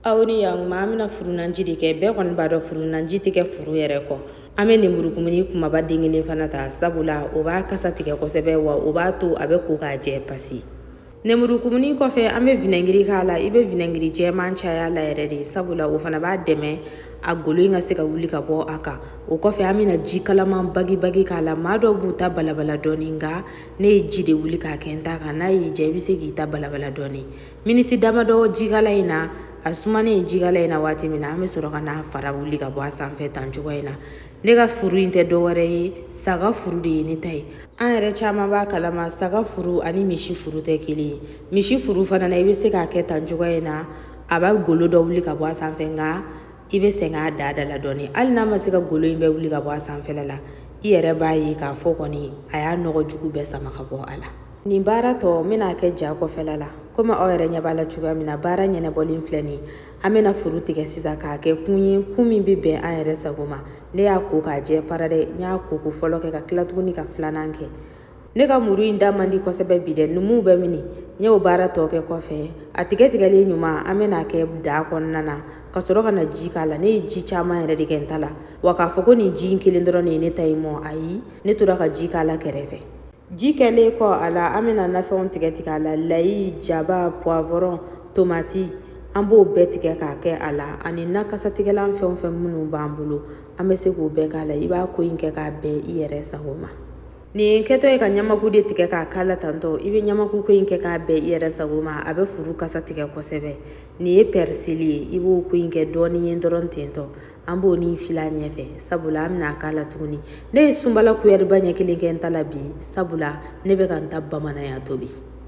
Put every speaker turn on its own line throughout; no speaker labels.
aw ni yan ma an bɛna furunanji de kɛ bɛɛ kɔni b'a dɔn furunanji tɛ kɛ furu yɛrɛ kɔ an bɛ lenburukumuni kumaba den kelen fana ta sabula o b'a kasa tigɛ kosɛbɛ wa o b'a to a bɛ ko k'a jɛ pasi lenburukumuni kɔfɛ an bɛ vinɛgiri k'a la i bɛ vinɛgiri jɛman caya la yɛrɛ de sabula o fana b'a dɛmɛ a golo in ka se ka wuli ka bɔ a kan o kɔfɛ an bɛna ji kalaman bagibagi k'a la maa dɔw b'u ta balabala dɔɔni nka ne ye ji de wuli k'a kɛ n ta kan n'a y'i diya i bɛ se k'i ta balabala dɔɔni Miniti damadɔ jikala in na a sumanen jikala in na waati min na an bɛ sɔrɔ ka n'a fara wuli ka bɔ a sanfɛ tan cogo in na ne ka furu in tɛ dɔwɛrɛ ye saga furu de ye ne ta ye an yɛrɛ caman b'a kalama saga furu ani misi furu tɛ kelen ye misi furu fana na i bɛ se k'a kɛ tan cogo in na a b'a golo dɔ wuli ka bɔ a sanfɛ nka i bɛ sɛgɛn a da da la dɔɔni hali n'a ma se ka golo in bɛɛ wuli ka bɔ a sanfɛla la i yɛrɛ b'a ye k'a fɔ kɔni a y'a nɔgɔ jugu bɛɛ sama ka bɔ a la nin baara tɔ n bɛn'a kɛ ja kɔfɛla la komi aw yɛrɛ ɲɛ b'a la cogoya min na baara ɲɛnabɔlen filɛ nin ye an bɛna furu tigɛ sisan k'a kɛ kun ye kun min bɛ bɛn an yɛrɛ sago ma ne y'a ko k'a jɛ para dɛ n y'a ko ko fɔlɔ kɛ ka tila tuguni ka filanan kɛ ne ka muru in da man di kosɛbɛ bi dɛ numuw bɛ mini n y'o baara tɔ kɛ kɔfɛ a tigɛtigɛlen ɲuman an bɛn'a kɛ daa kɔnɔna na ka sɔrɔ ka na ji k'a la ne ye ji caman yɛrɛ de kɛ n ta la wa k'a fɔ ko nin ji in kelen dɔrɔn de ye ne ta in mɔ ayi ne tora ka ji k'a la kɛrɛfɛ Ji kɛlen kɔ a la an bɛna nafɛnw tigɛ tigɛ a la layi jaba pwawɔrɔn tomati an b'o bɛɛ tigɛ k'a kɛ a la ani na kasatigɛlan fɛn fɛn minnu b'an bolo an bɛ se k'o bɛɛ k'a la i b'a ko in kɛ k'a bɛn i yɛrɛ sago ma nin kɛtɔ ye ka ɲamaku de tigɛ k'a k'a la tantɔ i bɛ ɲamaku ko in kɛ k'a bɛn i yɛrɛ sago ma a bɛ furu kasa tigɛ kosɛbɛ nin ye pɛrisili ye i b'o ko in kɛ dɔɔnin ye dɔrɔn tentɔ an b'o ni fila ɲɛfɛ sabula an bɛn'a k'a la tuguni ne ye sunbala kuyɛriba ɲɛ kelen kɛ n ta la bi sabula ne bɛ ka n ta bamananya tobi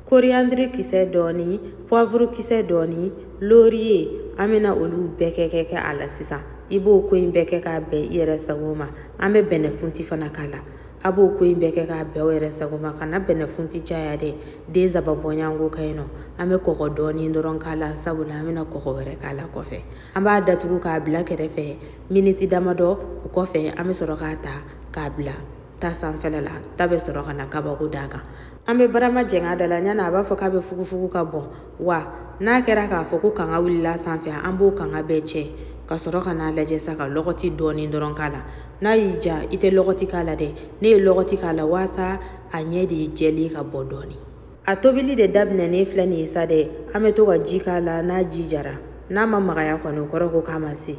koriyandiri kisɛ dɔɔni puwavuru kisɛ dɔɔni loriye an bɛna olu bɛɛ kɛ kɛ kɛ a la sisan i b'o ko in bɛɛ kɛ k'a bɛn i yɛrɛ sago ma an bɛ bɛnɛfunti fana k'a la a b'o ko in bɛɛ kɛ k'a bɛn aw yɛrɛ sago ma kana bɛnɛfunti caya dɛ den saba bɔɲɔgɔnko ka ɲi nɔ an bɛ kɔgɔ dɔɔni dɔrɔn k'a la sabula an bɛna kɔgɔ wɛrɛ k'a la kɔfɛ an b'a datugu k'a bila kɛrɛfɛ miniti damadɔ o kɔfɛ an bɛ sɔrɔ k'a ta k'a bila ta sanfɛ la ta bɛ sɔrɔ ka na kabako d'a kan an bɛ barama jɛngɛ da la ɲana a b'a fɔ k'a bɛ fugufugu ka bɔn wa n'a kɛra k'a fɔ ko kanga wulila sanfɛ an b'o kanga bɛɛ cɛ ka sɔrɔ ka n'a lajɛ sa ka lɔgɔti dɔɔni dɔrɔn k'a la n'a y'i diya i tɛ lɔgɔti k'a la dɛ ne ye lɔgɔti k'a la waasa a ɲɛ de ye jɛlen ka bɔ dɔɔni a tobili de daminɛnen filɛ nin ye sa dɛ an bɛ to ka ji k'a la n'a ji jara n'a ma magaya kɔni o kɔrɔ ko k'a ma se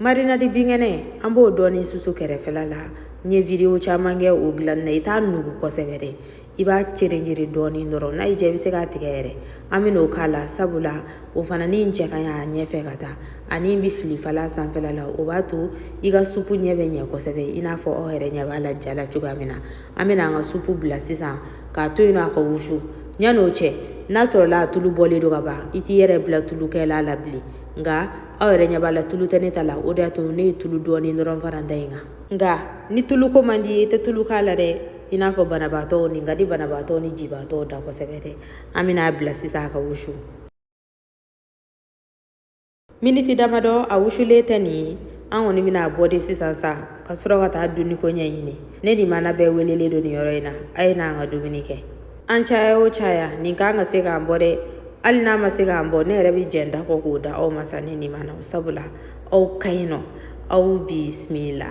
marinadi binkɛnɛ an b'o dɔɔni susu kɛrɛfɛla la n ye video caman kɛ o dilanni na i t'a nugu kosɛbɛ dɛ i b'a cerenjere dɔɔni dɔrɔn n'a y'i diya i bɛ se k'a tigɛ yɛrɛ an bɛn'o k'a la sabula o fana nin cɛ ka ɲi a ɲɛfɛ ka taa ani n bɛ filifala sanfɛla la o b'a to i ka supu ɲɛ bɛ ɲɛ kosɛbɛ i n'a fɔ aw yɛrɛ ɲɛ b'a la ja la cogoya min na An bɛna an ka supu bila sisan k'a to yen nɔ a ka wusu yan'o cɛ n'a sɔrɔla a tulu bɔlen don ka ban i t'i yɛrɛ bila tulu kɛ la a la bilen nka aw yɛrɛ ɲɛ b'a la tulu tɛ ne ta la o de y'a to ne ye tulu dɔɔni dɔrɔn fara n ta in kan nka ni tuluko man di i tɛ tulu k'a la dɛ i n'a fɔ banabaatɔw nin ka di banabaatɔw ni jibaatɔw da kosɛbɛ dɛ an bɛna a bila sisan a ka wusu miniti damadɔ a wusulen tɛ nin ye an kɔni bɛna a bɔ de sisan sa ka sɔrɔ ka taa dumuni ko ɲɛɲini ne ni mana bɛɛ welelen don nin yɔrɔ in na a ye n'an ka dumuni kɛ an caya o caya nin ka kan ka se k'an bɔ dɛ hali n'a ma se k'an bɔ ne yɛrɛ bɛ jɛn n ta kɔ k'o d'aw ma sa ne ni mana sabula aw ka ɲi nɔ aw bisimila